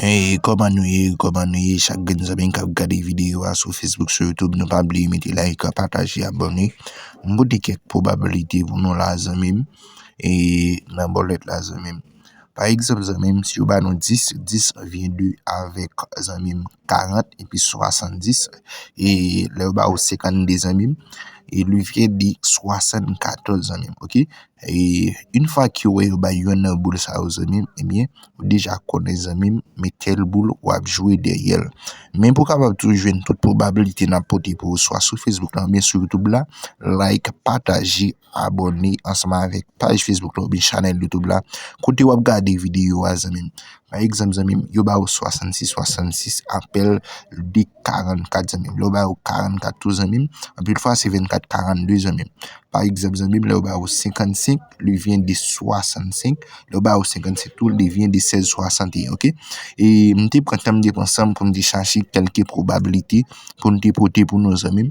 Hey kòman nou ye kòman nou ye chak grenn zanmi kap gade video a sou Facebook sou YouTube nou pa bliye mete like pataje abòne m pote kèk pwobablite pou nou la zanmi m e nan bòlèt la zanmi m pa egzanp zanmi m si yo ba nou 10 10 vye 2 avèk zanmi m. 40 epi 70 e lè yo ba ou 52 zanmi m e li vle di 74 zanmi m ok e yn fwa ke ou wè yo bay yonn nan boul sa yo zanmi m ebyen ou deja konnen zanmi m men tel boul wap jwe dèyè l men pou w kapab tou jwenn tout pwobabilite nap pote pou ou swa sou facebook la oubyen sou youtube la like pataje abòne ansanm avèk paj Facebook la oubyen chanèl YouTube la kote wap gade videyo a zanmim pa egzanp zanmim yo ba ou 66 66 apèl de 44 zanmim lè yo ba ou 44 tou zanmim anpil fwa se 24 42 zanmim pa egzanp zanmim lè yo ba ou 55 li vyen de 65 lè yo ba ou 57 tou li vyen de 16 61 ok e m te pran tan m te pran san m pou m te chache kèlke pwobabilite pou m te pote pou nou zanmim.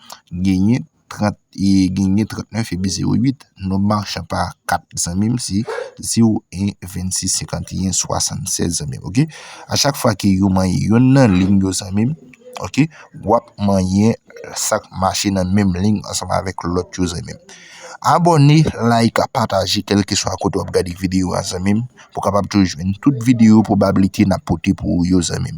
genyen 30 e genyen 39 epi 08 nonm machan pa 4 zanmim se 0 1 26 51 76 zanmim ok a chak fwa ke yo manyen yon nan lim yo zanmim ok wap manyen sak mache nan menm lim ansanm avèk lòt yo zanmim abòne like pataje kelke swa kote wap gade videyo a zanmim pou kapab toujwen tout videyo pwobablite nap pote pou ou yo zanmim.